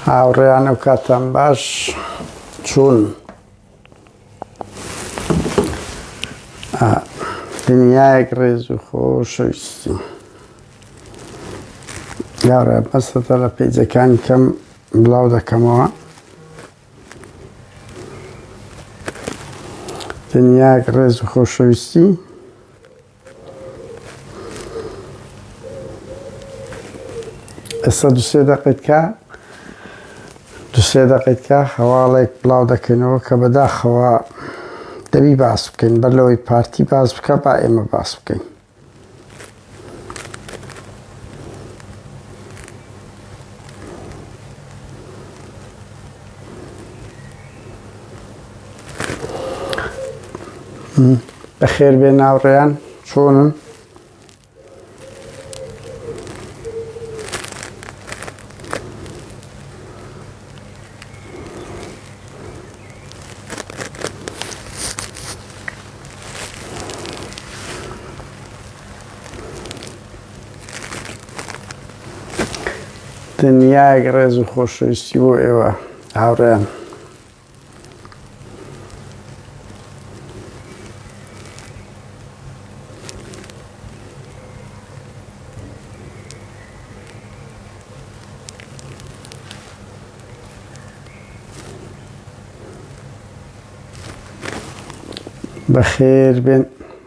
هاوڕێیان و کاتان باش چوون دنیایەک ڕێز و خۆشەویستی یاڕێ بەسەتە لە پێیجەکانی کەم بڵاو دەکەمەوە دنیایەک ڕێز و خۆشەویستی ئێستا دوسێ دەقیت کا دوسێ دەقیت کا هەواڵێک بڵاو دەکەنەوە کە بەداخەوە دەبی باس بکەین بەر لەوەی پارتی باس بکە با ئێمە باس بکەین بەخێر بێ ناوڕێیان چۆنن دنیایەک ڕێز و خۆشەویستی بۆ ئێوە هاوڕێیان بەخێر بێن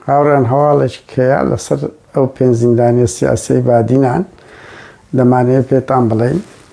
هاوڕێن هەواڵێکی کەیا لەسەر ئەو پێنج زیندانیە سیاسی بادینان دەمانەیە پێتان بڵێین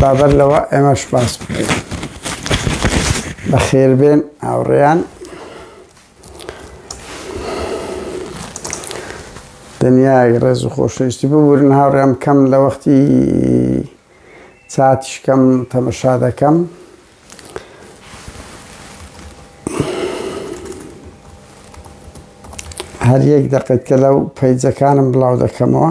بابەر لەوە ئێمەش باس بکەین بەخێربێن ئاوڕێیان دنیای ڕێز و خۆشەویستی ببورن هاوڕێم کەم لە وەختی چاتیشکەم تەمەشا دەکەم هەر یەک دەقێت کە لەو پەیجەکانم بڵاو دەکەمەوە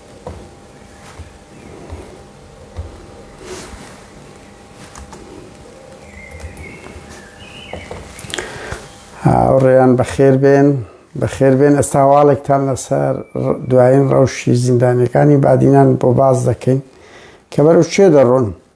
هاوڕێیان بەخێر بێن بەخێر بێن ئەستا هەواڵێکتان لەسەر دوایین ڕەوشی زیندانەکانی بادینان بۆ باز دەکەین کە بەرەو چێ دەڕۆن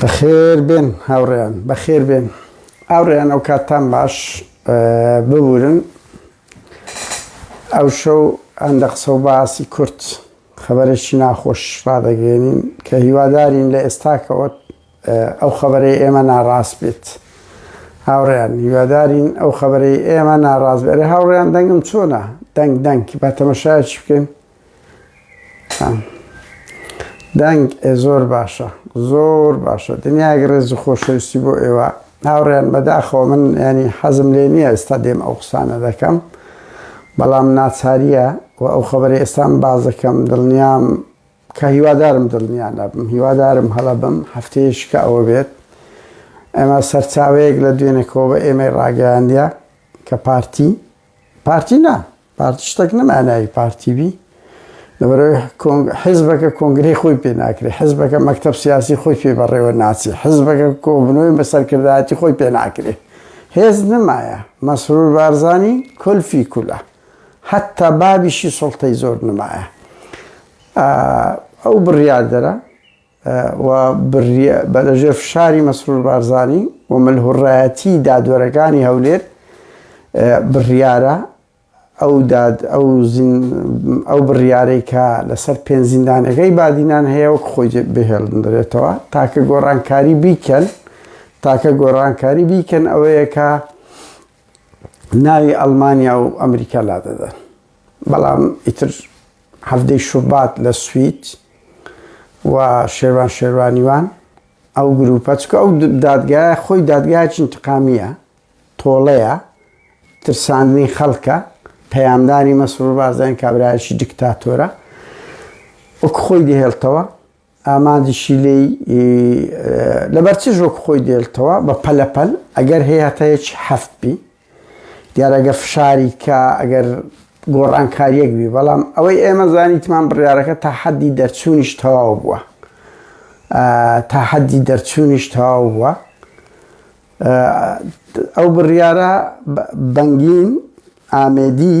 بەخێربێن هاوڕێیان بەخێربێن ئاوڕێیان ئەو کاتتان باش ببورن ئەو شەو ئەندە قسە و باسی کورت خەبەرێکی ناخۆش ڕدەگەێنین کە هیوادارین لە ئێستاکەوە ئەو خەبەرەی ئێمە ناڕاست بێت هاوڕێیان هیوادارین ئەو خەبەرەی ئێمە ناڕاست بێت هاوڕێیان دەنگم چۆنا دەنگ دەنگ با تەمەشایش بکەین دەنگ زۆر باشە زۆر باشە دنیاگ ڕێز و خۆشەویستی بۆ ئێوە هاوڕێن بەداخەوە من ینی حەزم لێ نییە ئێستا دێم ئەو قسانە دەکەم بەڵام ناچاریە و ئەو خبری ئێستان بازەکەم دڵنیام کە هیوادارم دڵنیان نەبم هیوادارم هەڵە بم هەفتەیەشکە ئەوە بێت ئەمە سەرچاوەیەک لە دوێنێکەوە بە ئێمەی ڕاگەیاندە کە پارتی پارتی نا پارتی شتەک نەما ناوی پارتی بی لەبەرەوەی حزبەکە کۆنگری خۆی پێ ناکرێت حزبەکە مەکتب سیاسی خۆی پێ بەڕێوە ناچێت حزبەکە کۆبنەوەی بە سەرکردایەتی خۆی پێ ناکرێت هێز نمایە مەسرور بارزانی کلفی کولە حتا بابیشی سڵتەی زۆر نمایە ئەو بڕیاردەرە و بریە بە لە ژێر فشاری مەسرور بارزانی و ملهوڕایەتی دادوەرەکانی هەولێر بڕیارە ئەو داد ئەو ئەو بڕیارەی کە لەسەر پێنج زیندانەکەی بادینان هەیە وەک خۆی بهێڵدرێتەوە تاکە گۆڕانکاری بیکەن تاکە گۆڕانکاری بیکەن ئەوەیە کە ناوی ئەلمانیا و ئەمریکا لا دەدەن بەڵام ئیتر هەفتەی شوبات لە سوید و شێوان شێوانیوان ئەو گروپە چکە ئەو دادگایە خۆی دادگایکی انتقامیە تۆڵەیە ترساندنی خەڵکە پەیامدانی مەسرور بازدان کابراایکی دیکتاتۆرە وەک خۆی دهێڵتەوە ئامانجیشی لێی لەبەر چ ژۆک خۆی دێلتەوە بە پەلە پەل ئەگەر هەیە هەتا یەکی حەفت بی دیار ئەگە فشاری کا ئەگەر گۆڕانکاریەک بی بەڵام ئەوەی ئێمە زانیتمان بڕارەکە تا حەدی دەرچوونیش تەواو بووە تا حەدی دەرچوونیش تەواو بووە ئەو بڕیارە بەنگین ئامێدی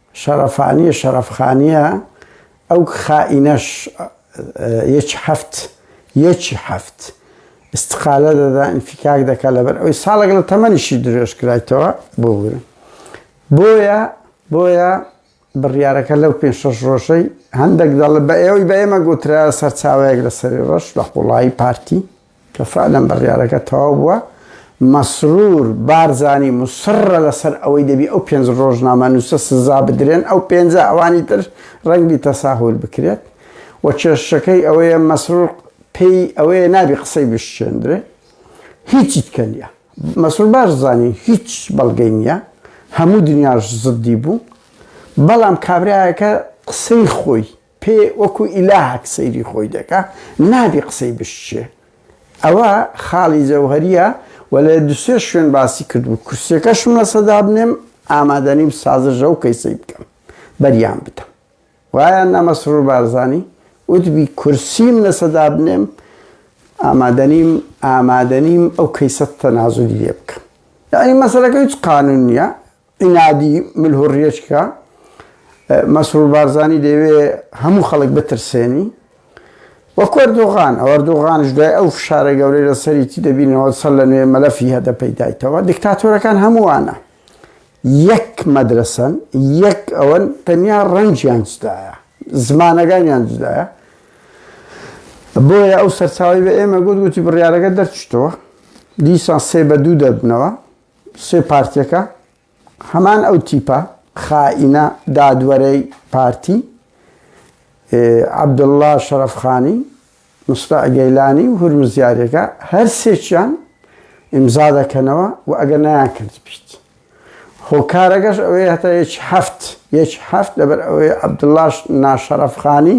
شەڕەفانیە شەڕەفخانیە ئەو خائینەش یەکی حەفت یەکی حەفت استقالە دەدا انفکاک دەکا لەبەر ئەوی ساڵێک لە تەمەنیشی درێژ کرایتەوە بۆ بووە بۆیە بۆیە بڕیارەکە لەو پێ شەش ڕۆژەی هەندێک دەڵێ بە ئێوەی بە ئێمە گوترا سەرچاوەیەک لە سەری ڕەش لە قوڵایی پارتی کە فەعلەن بڕیارەکە تەواو بووە، مەسرور بارزانی موسڕە لەسەر ئەوەی دەبی ئەو پێنج ڕۆژنامەنووسە سزا بدرێن، ئەو پێنجە ئەوانی تر ڕەنگبی تەساهول بکرێت و کێششەکەی ئەوەیە مەسرور پێی ئەوەیە نابی قسەی بشچێندرێ هیچی تکە نیە مەسرور بارزانی هیچ بەڵگەی نیە هەموو دنیاش زدی بوو بەڵام کابراایەکە قسەی خۆی پێ وەکو ئیلاهەک سەیری خۆی دەکا نابی قسەی بشچێ ئەوە خاڵی جەوهریە و لە دوسێ شوێن باسی کردبوو کورسەکەشم لە سەدابنێم ئامادەنیم سازژە و کەیسەی بکەم بەریان بدەم وایە نەمەسرور بارزانی وتبی کورسیم لە سەدا بنێم ئامادەنیم ئامادەنیم ئەو کەیسە تەنازلی لێ بکەم یعنی مەسەرەکە هیچ قانون نییە ئینادی مل و ڕێچکە مەسرور بارزانی دەوێ هەموو خەڵک بترسێنی وەکو ئەردۆغان ئەو ئەردۆغانش دوای ئەو فشارە گەورەی لە سەریتی دەبینەوە سەر لە نوێ مەلەفی هەدە پەیدایتەوە دیکتاتۆرەکان هەمووانە یەک مەدرسن یەک ئەوەن تەنیا ڕەنجیان جدایە زمانەکانیان جدایە بۆیە ئەو سەرچاوی بە ئێمە گوت گوتی بڕیارەکە دەرچتەوە دیسان سێ بە دوو دەبنەوە سێ پارتیەکە هەمان ئەو تیپە خائینە دادوەرەی پارتی عەبدوڵڵا شەرەفخانی مستە گەیلانی و هەروزیارەکە هەر سێکیان ئیمزا دەکەنەوە و ئەگە نایان کرد بیت هۆکارەکەش ئەوەی هەتا یەکی هەفت یەکی هەفت لەبەر ئەوەی عەبدوڵاش ناشەرەفخانی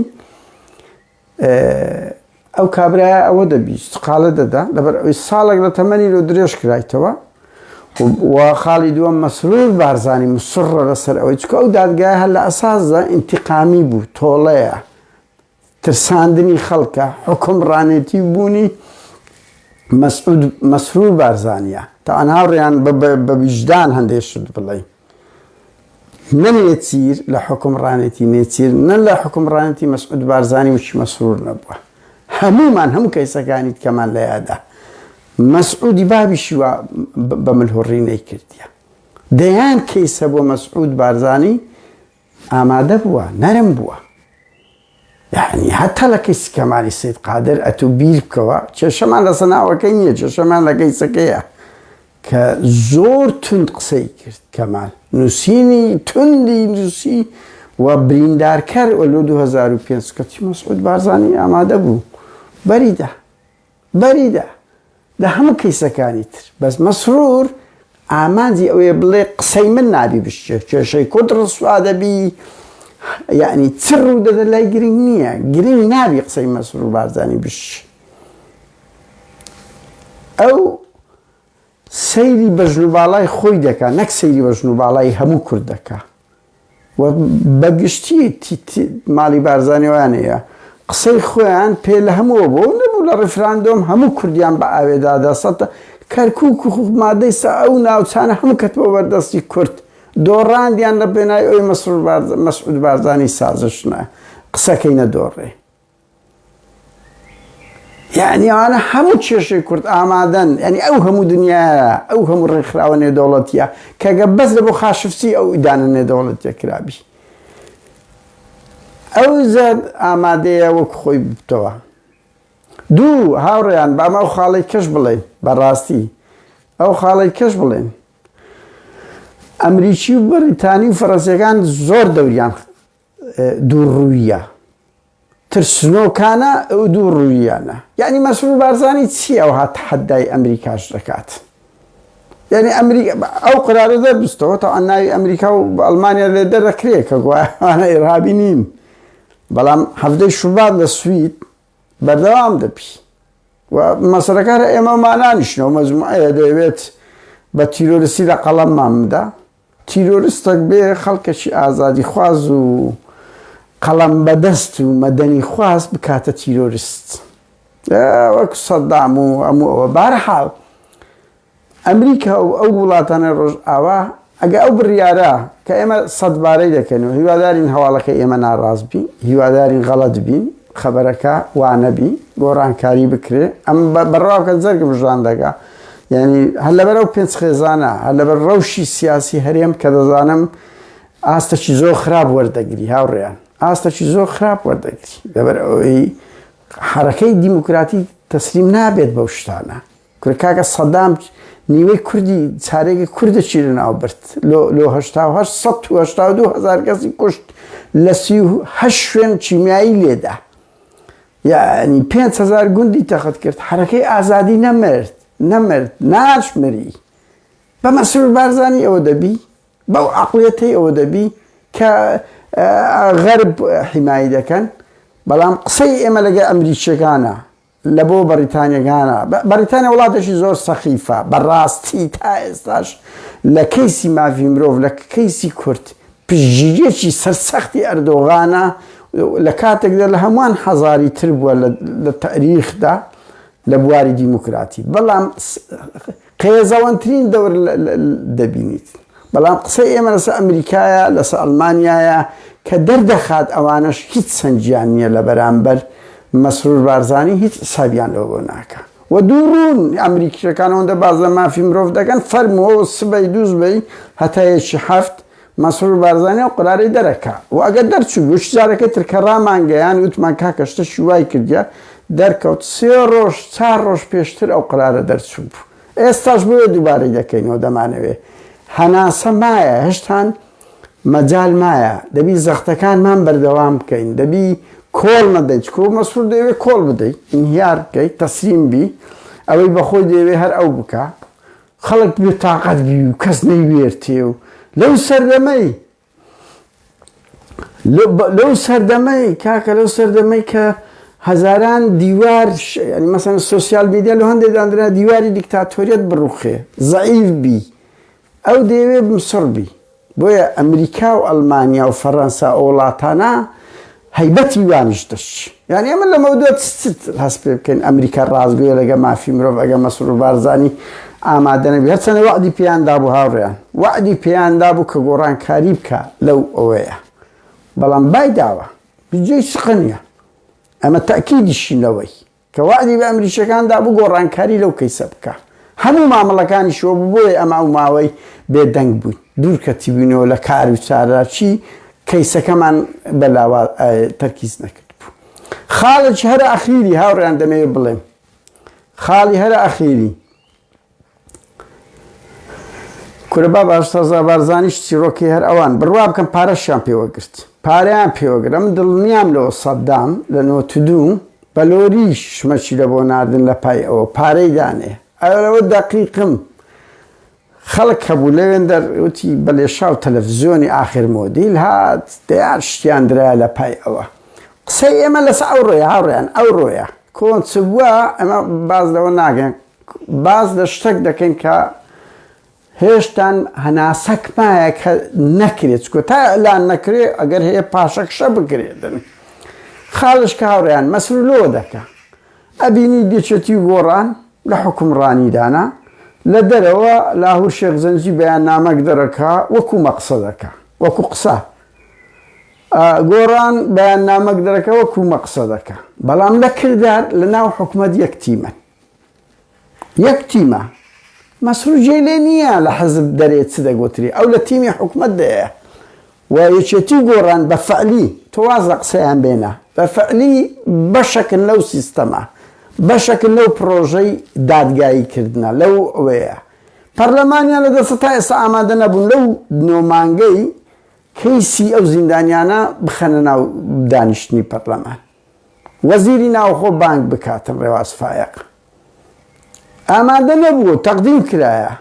ئەو کابرایە ئەوە دەبیست قالە دەدا لەبەر ئەوی ساڵێک لە تەمەنی لۆ درێژ کرایتەوە و خاڵی دووەم مەسرور بارزانانی مسڕە لەسەر ئەوەی چکە ئەو دادگای هەر لە ئەسازدا ئینتقامی بوو تۆڵەیە ترساندنی خەڵکە حکم ڕانێتی بوونی مەسرور بارزانە تاان هاوڕیان بە ویژدان هەندێک شت بڵێ نە نێچیر لە حوکمڕانێتی نێچیر نە لە حوکمڕانێتی مەسعود بارزانی و چیمەسرور نەبووە هەموومان هەموو کەیسەکانی تکەمان لە یادا مەسعودی بابیشی وا بە ملهوڕی نەیکردە دەیان کەیسە بۆ مەسعود بارزانی ئامادە بووە نەرم بووە یعنی هەر تەلەکەی سکەماری سید قادر ئەتو بیر بکەوە کێشەمان لەسە ناوەکەی نییە کێشەمان لە گەیسەکەیە کە زۆر تند قسەی کرد کەمال نووسینی تندی نووسی و بریندارکەر ئەلو 2005 کەچی مەسعود بارزانانی ئامادە بوو بەریدا بەریدە لە هەموو کەیسەکانی تر بەس مەسرور ئامانجی ئەوەیە بڵێ قسەی من نابی بشکێ کێشەی کورد ڕسوا دەبی یەعنی چ ڕوو دەدە لای گرنگ نییە گرنگ نابی قسەی مەسرور بارزانی بشی ئەو سەیری بەژن و باڵای خۆی دەکا نەک سەیری بەژن و باڵای هەموو کورد دەکا. و بەگشتی ماڵی بارزانی وانەیە قسەی خۆیان پێ لە هەمووە بۆ نەبوو لە ڕیفراندۆم هەموو کوردیان بە ئاوێدادا سەدە کەرکوک و مادەی سا ئەو ناوچانە هەموو کەت بۆ بەردەستی کورد دۆڕاندیان لە پێنای ئەوی مەسعود بارزانی سازش نە قسەکەی نەدۆڕێ. یەعنی ئەوانە هەموو کێشەی کورد ئامادەن یعنی ئەو هەموو دنیاە ئەو هەموو ڕێکخراوە نێودەوڵەتیە کەگە بەس لە بۆ خاشفسی ئەو ئیدانە نێدەوڵەتە کرابی ئەو زەر ئامادەیە وەک خۆی بتەوە دوو هاوڕێیان باما ئەو خاڵی کەش بڵێن بەڕاستی ئەو خاڵی کەش بڵێن ئەمریکی و بەریتانی و فەڕەنسیەکان زۆر دەوریان دوو ڕوویە ترسنۆکانە ئەو دوو ڕوویانە یعنی مەسرور بارزانی چی ئەو هات حەدای ئەمریکاش دەکات یعنی ئەمریکا ئەو قرارە دەربستەوە تا ناوی ئەمریکا و ئەلمانیا لێ دەرەکرێ کە گوایانە ئێرابی نین بەڵام هەفتەی شوبات لە سوید بەردەوام دەبی و مەسەرەکار ئێمە مانانیشنەوە مەزموعەیە دەوێت بە تیرۆرسی لە قەڵەممان بدا تیرۆرستەک بێ خەڵکەکی ئازادیخواز و قەڵەم بەدەست و مەدەنی خواز بکاتە تیرۆرست وەک سەدام و ئەمو ئەوە بارحاڵ ئەمریکا و ئەو وڵاتانە ڕۆژ ئاوا ئەگە ئەو بڕیارە کە ئێمە سەدبارەی دەکەن و هیوادارین هەواڵەکە ئێمە ناڕاست بین هیوادارین غەڵەت بین خەبەرەکە وانەبی گۆڕانکاری بکرێ ئەم بەڕاوکە جەرگ بژان دەگا یعنی هەر لەبەر ئەو پێنج خێزانە هەر لەبەر ڕەوشی سیاسی هەرێم کە دەزانم ئاستەکی زۆر خراپ وەردەگری هاوڕێیان ئاستەکی زۆر خراپ وەردەگری لەبەر ئەوەی حرەکەی دیموکراتی تەسلیم نابێت بەو شتانە کورە کاکە سەدام نیوەی کوردی چارێکی کوردە چی لە ناو برد لۆ لۆ هەشتا و هەشت سەد و هەشتا و دوو هەزار کەسی کوشت لە سی و هەشت شوێن کیمیایی لێدا یعنی پێنج هەزار گوندی تەخت کرد حرەکەی ئازادی نەمرد نەمرد ناشمری بە مەسرور بارزانی ئەوە دەبی بەو عقلەتی ئەوە دەبی کە غەرب حیمایی دەکەن بەڵام قسەی ئێمە لەگە ئەمریکیەکانە لە بۆ بەریتانیە گانە بەریتانیە وڵاتێکی زۆر سەخیفە بەڕاستی تا ئێستاش لە کەیسی ماڤی مرۆڤ لە کەیسی کورد پژیرێکی سەرسەختی ئەردۆغانە لە کاتێکدا لە هەمووان حەزاری تر بووە لە تەریخدا لە بواری دیموکراتی بەڵام قێزەوەنترین دەور دەبینیت. بەڵام قسەی ئێمە لەسەر ئەمریکایە، لەسەر ئەڵمانیایە کە دەردەخات ئەوانەش هیچ سەنگیان نییە لە بەرامبەر مەسرور بارزانی هیچ حسابیان لەوە بۆ ناکە و دوو ڕوون ئەمریکیەکان ئەوەندە باز لە مافی مرۆڤ دەکەن فەرمەوە سبەی دووز بی هەتا یەکی حەفت مەسرور بارزانی ئەو قەرارەی دەرەکا و ئەگەر دەرچوو بووش جارەکەی تر کە ڕامانگەیاند وتمان کاکە شتەکی وای کردیە دەرکەوت سێ ڕۆژ چار ڕۆژ پێشتر ئەو قەرارە دەرچوو بوو ئێستاش بۆیە دووبارەی دەکەینەوە دەمانەوێ هەناسە مایە هەشتان مەجال مایە دەبی زەختەکانمان بەردەوام بکەین دەبی کۆڵ نەدەین چکۆ مەسرور دەیەوێ کۆڵ بدەیت ئینهیار بکەیت تەسلیم بی ئەوەی بەخۆی دەیەوێ هەر ئەو بکە خەڵک بێ تاقەت بی و کەس نەیوێرتێ و لەو سەردەمەی لەو سەردەمەی کاکە لەو سەردەمەی کە هەزاران دیوار مەسەن سوسیال میدیا لە هەندێک دانرا دیواری دیکتاتۆریت بڕوخێ زعیف بی ئەو دەیەوێ بمسڕ بی بۆیە ئەمریکا و ئەلمانیا و فەرەنسا ئەو وڵاتانە هەیبەتی وانیش دەچی یانی ئەمە لەمەو دوێت هەست پێ بکەین ئەمریکا ڕازگوێ لەگە مافی مرۆڤ ئەگە مەسر و بارزانانی ئامادەنەبی هەرچەنە وعدی پێیاندا بوو هاوڕێیان وعدی پێیاندا بوو کە گۆڕانکاری بکە لەو ئەوەیە بەڵام بای داوە بجێ شقە نیە ئەمە تاکیدیشی لەوەی کە وەعدی بە ئەمریکیەکان دابوو گۆڕانکاری لەو کەیسە بکا هەموو مامەڵەکانی شۆ بوو بۆیە ئەمە ئەو ماوەی بێدەنگ بووین دوور کەتیبووینەوە لە کار و چاراچی کەیسەکەمان بە لاوا تەرکیز نەکرد بوو خاڵێکی هەرە ئەخیری هاوڕیان دەمەوێت بڵێم خاڵی هەرە ئەخیری کورە باب ئاشتەزا بارزانیش چیڕۆکی هەر ئەوان بڕوا بکەم پارەشیان پێوەگرت پاریان پێوەگرم دڵنیام لەوە سەددام لە نۆتدوو بەلۆری شمەچی لە بۆ ناردن لە پای ئەوە پارەی دانێ ئەرەوە دەقیقم خەڵک هەبوو لەوێن دەروتی بە لێشا و تەلەڤزیۆنی ئاخر مۆدیل هات دەیان شتیان درای لە پای ئەوە قسەی ئێمە لەس ئەو ڕۆیە هاوڕێیان ئەو ڕۆیە کۆنچبووە ئەمە باز لەوە ناگەن باس لە شتەک دەکەین کە هێشتان هەناسەک مایە کە نەکرێت چکۆ تا ئەلان نەکرێت ئەگەر هەیە پاشەکشە بکرێتن خاڵش کە هاوڕیان مەسر لۆ دەکە ئەبینی دێچێتی گۆڕان لە حکومڕانیدانا لە دەرەوە لاهور شێخ زەنجی بەیان نامەک دەرەکە وەکو مەقسە دەکە وەکو قسە گۆڕان بەیان نامەک دەرەکە وەکو مەقسە دەکە بەڵام لە کردار لە ناو حکومت یەک تیمەن یەک تیمە مەسرور جێی لێ نییە لە حزب دەرێ چ دەگۆترێ ئەو لە تیمی حکومەت دەیە و یەکێتی گۆڕان بە فەعلی تۆ واز لە قسەیان بێنە بە فەعلی بەشەکن لەو سیستەمە بەشەکن لەو پرۆژەی دادگایی کردنە لەو ئەوەیە پەرلەمانیان لە دەسە تا ئێستا ئامادە نەبوون لەو نۆمانگەی کەیسی ئەو زیندانیانە بخەنە ناو دانیشتنی پەرلەمان وەزیری ناوخۆ بانگ بکاتن ڕێواز فایەق ئامادە نەبوو تەقدیم کرایە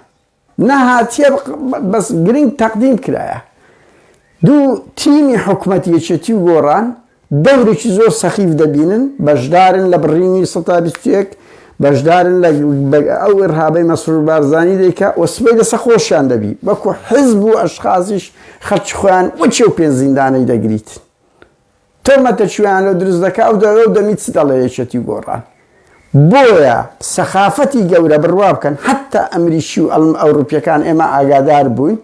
نەهاتیە بەس گرنگ تەقدیم کرایە دوو تیمی حکومەت یەکێتی و گۆڕان دەورێکی زۆر سەخیف دەبینن بەشدارن لە بڕینی 1920 بەشدارن لە ئەو ئرهابەی مەسرور بارزانانی دەیکە و سبەی لەسە خۆشیان دەبی وەکو حزب و ئەشخازیش خەرچ خۆیان وەچێ و پێنزیندانەی دەگریت تۆمەتە چویان لۆ دروست دەکا ئەو دەوێ و دەمی چ دەڵێ یەکێتی و گۆڕان بۆیە سەخافەتی گەورە بڕوا بکەن حتا ئەمریکی و ئەڵم ئەوروپیەکان ئێمە ئاگادار بووین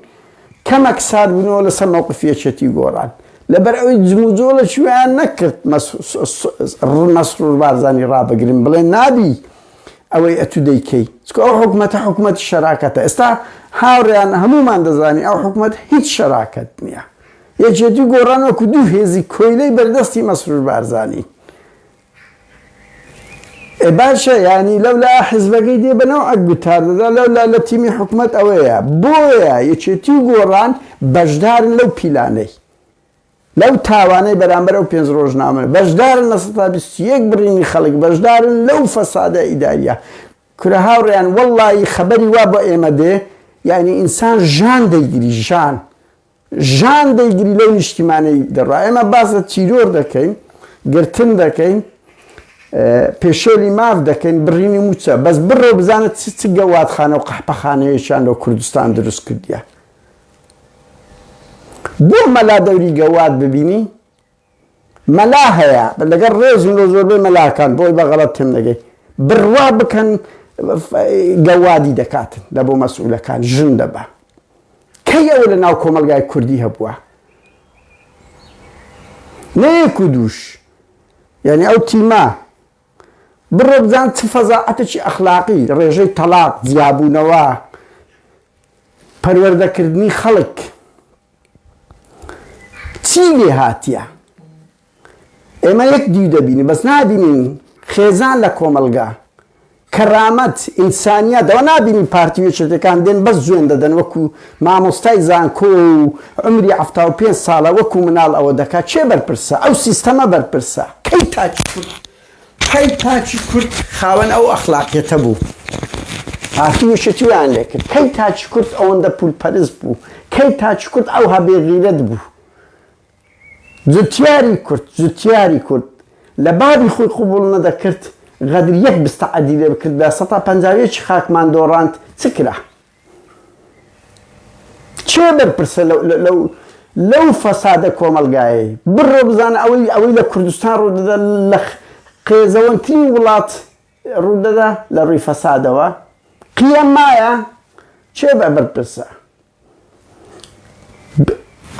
کەمەک سارد بوونەوە لەسەر مەوقف یەکێتی و گۆڕان لەبەر ئەوەی جموجۆڵە چویان نەکرد مەسرور بارزانی ڕابگرن بڵێ نابی ئەوەی ئەتو دەیکەی چکە ئەو حکومەتە حکومەت شەراکەتە ئێستا هاوڕیان هەمومان دەزانی ئەو حکومەت هیچ شەراکەت نییە یەکێتی و گۆڕان وەکو دوو هێزی کۆیلەی بەردەستی مەسرور بارزانین. ئێ باشە یانی لەولا حزبەکەی دێ بە نەوعەک گوتار دەدا لەولا لە تیمی حکومەت ئەوەیە بۆیە یەکێتی و گۆڕان بەشدارن لەو پیلانەی لەو تاوانەی بەرامبەر ئەو پێنج ڕۆژنامە بەشدارن لە سەدا بیست و یەک بڕینی خەڵک بەشدارن لەو فەسادە ئیداریە کورە هاوڕێیان وەڵڵایی خەبەری وا بە ئێمە دێ یانی ئینسان ژان دەیگری ژان ژان دەی گریلەی نیشتیمانی دەڕا ئێمە باس لە تیرۆر دەکەین گرتن دەکەین پێشێلی ماف دەکەین بڕینی موچە بەس بڕۆ بزانە چ چ گەوادخانە و قەحپەخانەیەشان لە کوردستان دروست کردیە بۆ مەلا دەوری گەواد ببینی مەلا هەیە لەگەڵ ڕێزم لۆ زۆربەی مەلاکان بۆی بە غەڵەت تێم دەگەی بڕوا بکەن گەوادی دەکاتن لە بۆ مەسئولەکان ژن دەبا کەی ئەوە لە ناو کۆمەلگای کوردی هەبووە نەیەک و دووش یعنی ئەو تیما بڕۆ بزان چ فەزاعەتێکی ئەخلاقی ڕێژەی تەلاق جیابوونەوە پەروەردەکردنی خەڵک چی لێ هاتیە؟ ئێمە یەک دیو دەبینین بەس نابینین خێزان لە کۆمەڵگا، کەرامەت، ئینسانیات ئەوە نابینین پارتی و یەکێتیەکان دێن بەس جوێن دەدەن وەکو مامۆستای زانکۆ و عەمری حەفتا و پێنج ساڵە وەکو مناڵ ئەوە دەکات کێ بەرپرسە؟ ئەو سیستەمە بەرپرسە کەی تاکی کورد کەی تاکی کورد خاوەن ئەو ئەخلاقیەتە بوو پارتی وشەکیان لێکرد کەی تاکی کورد ئەوەندە پول پەرست بوو کەی تاکی کورد ئەو هەبێ غیرەت بوو جوتیاری کورد جوتیاری کورد لە بابی خۆی قبول نەدەکرد غەدر یەک بستە عەدی لێ بکردبا سەتا پەنجا و یەکی خاکمان دۆڕاند چ کرا؟ کێ بەرپرسە لەو فەسادە کۆمەڵگایەی؟ بڕۆ بزانە ئەوەی لە کوردستان ڕوودەدا لە قێزەوەنترین وڵات ڕوودەدا لە ڕووی فەسادەوە؟ قیە مایە؟ کێ بەرپرسە؟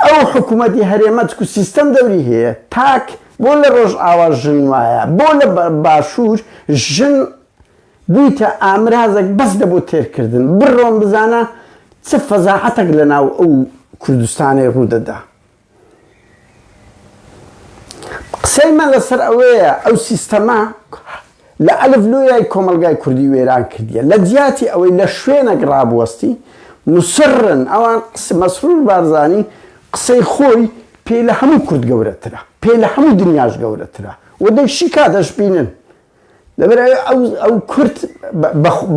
ئەو حکومەتی هەرێمە چکو سیستەم دەوری هەیە تاک بۆ لە ڕۆژئاوا ژن وایە بۆ لە باشوور ژن بویتە ئامرازەک بەس لە بۆ تێرکردن. بڕۆن بزانە چ فەزاحەتەک لە ناو ئەو کوردستانەی ڕوو دەدا. قسەی من لە سەر ئەوەیە ئەو سیستەمە لە ئەلف لۆیای کۆمەڵگای کوردی وێران کردیە. لە جیاتی ئەوەی لە شوێنەک ڕابوەستی، موسڕن ئەوان قسە، مەسرور بارزانی قسەی خۆی پێ لە هەموو کورد گەورەترە، پێ لە هەموو دنیاش گەورەترە و دەی شیکا دەشبینن دەبێت ئەو کورد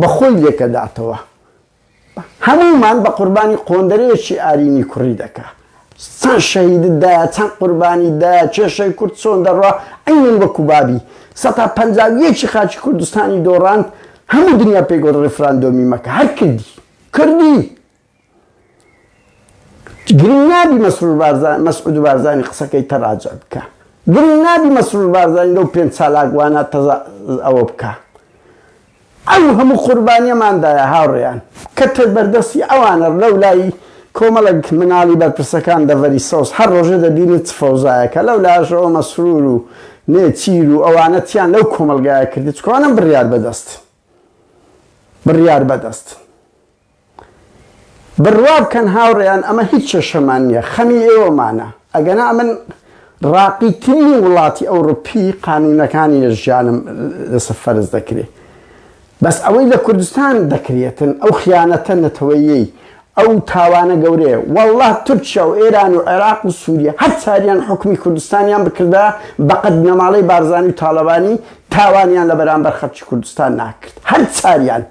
بە خۆی لێکەداتەوە. هەموومان بە قوربانی قۆندەرەیەکی ئارینی کوڕی دەکا. چەند شەهیدت دایە، چەند قوربانیت دایە، کێشەی کورد چۆن دەڕوا، عەینەن وەکو بابی. سەتا پەنجا و یەکی خاکی کوردستانی دۆڕاند، هەموو دنیا پێی گوت ڕیفراندۆمی مەکە، هەر کردی. کردی! گرنگ نابی مەسرور بارزانی مەسعود بارزانی قسەکەی تە راجع بکا گرنگ نابی مەسرور بارزانی لەو پێنج چالاک وانە تە ئەوە بکا ئەو هەموو قوربانیەمان دایە هاوڕێیان کە تە بەردەستی ئەوانە لەو لای کۆمەڵێک مناڵی بەرپرسەکان دەڤەری سەوز هەر رۆژە دەبینی چ فەوزایەکە لەو لاشەوە مەسرور و نێچیر و ئەوانە چیان لەو کۆمەڵگایە کردی چکۆنم بریار بەدەست بڕیار بەدەست بڕوا بکەن هاوڕێیان ئەمە هیچ کێشەمان نییە خەمی ئێوەمانە ئەگەنا من ڕاقی ترین وڵاتی ئەوروپی قانونەکانی لە ژیانم لەسە فەرز دەکرێت بەس ئەوەی لە کوردستان دەکرێتن ئەو خیانەتە نەتەوەیەی ئەو تاوانە گەورەیە واللە تورکیا و ئێران و عێراق و سوریە هەر چاریان حوکمی کوردستانیان بکردایە بەقەد بنەماڵەی بارزانی و تاڵەبانی تاوانیان لە بەرامبەر خەلکی کوردستان ناکرد هەر چاریان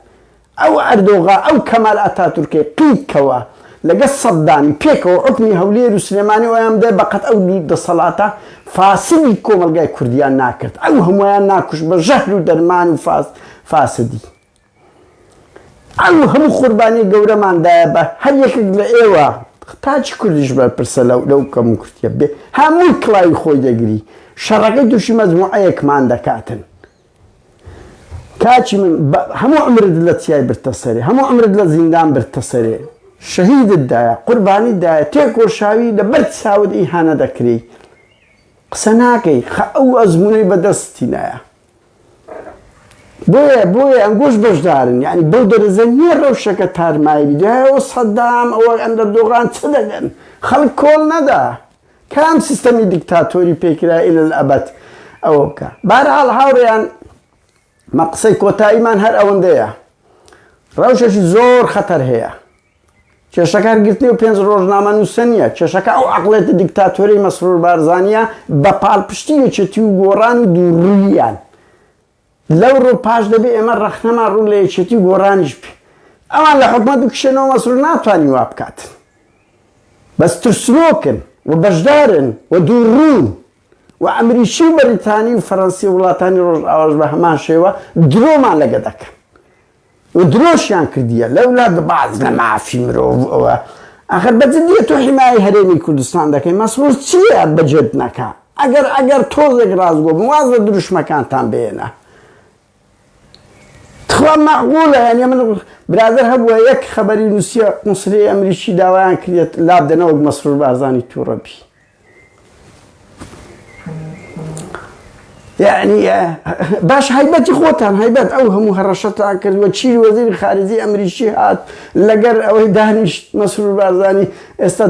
ئەو ئەردۆغا ئەو کەمال ئەتاتورکەی قیت کەوە لەگەل سەدامی پێکەوە حوکمی هەولێر و سلێمانی و ئەیان بدای بەقەد ئەو دوو دەسەڵاتە فاسدی کۆمەلگای کوردیان ناکرد ئەو هەموویان ناکوشت بە ژەهر و دەرمان و فاسدی ئەو هەموو قوربانی گەورەمان دایە بە هەر یەکێک لە ئێوە، تاکی کوردیش بەرپرسە لە لەو کەموکورتیە بێ هەمووی کڵاوی خۆی دەگری شەڕەکەی تووشی مەجموعەیەکمان دەکاتن. کاکی من بە هەموو عمرت لە چیای برتە سەرێ هەموو عمرت لە زیندان برتە سەرێ شەهیدت دایە قوربانی دایە تێکۆشاوی لە بەر چاوت ئیهانە دەکرێی قسە ناکەی خە ئەو ئەزمونەی بەدەستی نایە. بۆیە بۆیە ئەنگۆش بەشدارن یانی بەو دەرەجە نییە ڕەوشەکە تارمایی بی دوای ئەوە سەدام ئەوە ئەندەردۆغان چ دەگەن خەڵک کۆڵ نەدا کام سیستەمی دیکتاتۆری پێکرا ئیلە ئەبەد ئەوە بکە بارحاڵ هاوڕێیان مە قسەی کۆتاییمان هەر ئەوەندەیە ڕەوشەشی زۆر خەتەر هەیە کێشە کارگرتنی و پێنج ڕۆژنامەنووسە نییە، کێشەکە ئەو عەقڵێتە دیکتاتۆرەی مەسرور بارزانییە بە پاڵپشتی یەکێتی و گۆڕان و دووڕووییان. لەوڕووپاش دەبێ ئێمە ڕەخنەمان ڕوو لە یەکێتی و گۆڕانیش بێ. ئەوان لە حکومەت بکشێنەوە مەسرور ناتوانی وا بکات. بەس ترسنۆکن و بەشدارن و دووڕوون. وە ئەمریکی و بەریتانی و فەرەنسی و وڵاتانی ڕۆژئاواش بە هەمان شێوە درۆمان لەگە دەکەن. و درۆشیان کردیە لولا دباجنە مافی مرۆڤ ئەوە ئەخەر بە جدیە تۆ حیمایەی هەرێمی کوردستان دەکەی مەسرور چیە بەجێت نەکا ئەگەر ئەگەر تۆزێک ڕاستگۆ بن واز لە دروشمەکانتان بێنە تخوا مەعقولە یعنی من برادر هەبووە یەک خەبەری نووسیە قونسلی ئەمریکی داوایان کرێت لابدەنەوەک مەسرور بارزانی تووڕەبی باش هایبەتی خۆتان هایبەت ئەو هەموو هەڕەشەتان کرد وە چی وەزیری خارجی ئەمریکی هات لەگەر ئەوەی دانیشت مەسرور بارزانی ئێستا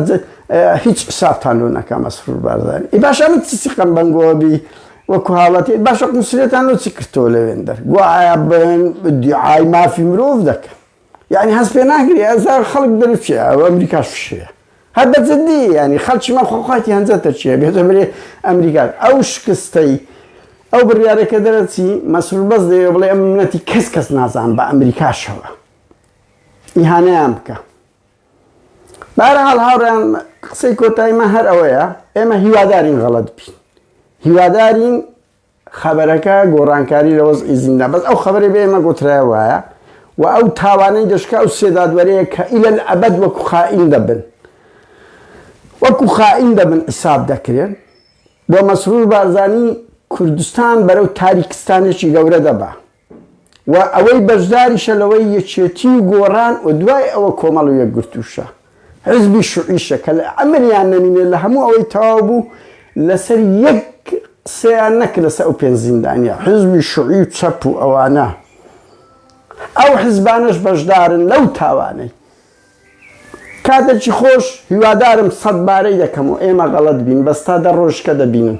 هیچ حسابتان لۆ نەکا مەسرور بارزانی ئی باشە من چی سیقەم بەنگەوە بی وەکو هاوڵاتی باشە قونسلێتان لۆ چی کردتەوە لەوێندەر گوایە بەیان دیعای مافی مرۆڤ دەکەن یعنی هەست پێ ناگری ئەزار خەڵک دەرچێ ئەو ئەمریکاش فشەیە هەر بە جددی ینی خەلکی مە خۆخواتی هەنجە تەرچیە بێتە برێ ئەمریکا ئەو شکستەی ئەو بڕارێکە دەرەچی مەسرور بەس دەوێ بڵێ ئەم منەتی کەس کەس نازان بە ئەمریکاشەوە ئیهانەیان بکە بارەحاڵ هاوڕیان قسەی کۆتایمە هەر ئەوەیە ئێمە هیوادارین غەڵت بین هیوادارین خەبەرەکە گۆڕانکاری لە وەزعی زیندان بەس ئەو خەبەرەی بە ئێمە گۆترایە وایە و ئەو تاوانەی دەشکا ئەو سێ دادوەرەیە کە ئیلە ئەبەد وەکو خائین دەبن وەکو خائین دەبن حیساب دەکرێن و مەسرور بارزانی کوردستان بەرەو تاریکستانێکی گەورە دەبا. و ئەوەی بەشداریشە لەوەی یەکێتی و گۆڕان و دوای ئەوە کۆمەڵ و یەکگرتووشە حزبی شوعیشە کە لە ئەمریان نەمینێ لە هەموو ئەوەی تەواو بوو لەسەر یەک قسەیان نەکرد لەسەر ئەو پێنج زیندانیە حزبی شوعی و چەپ و ئەوانە ئەو حزبانەش بەشدارن لەو تاوانەی کاتێکی خۆش هیوادارم سەد بارەی دەکەم و ئێمە غەڵەت بین بەس تا دە ڕۆژکە دەبینن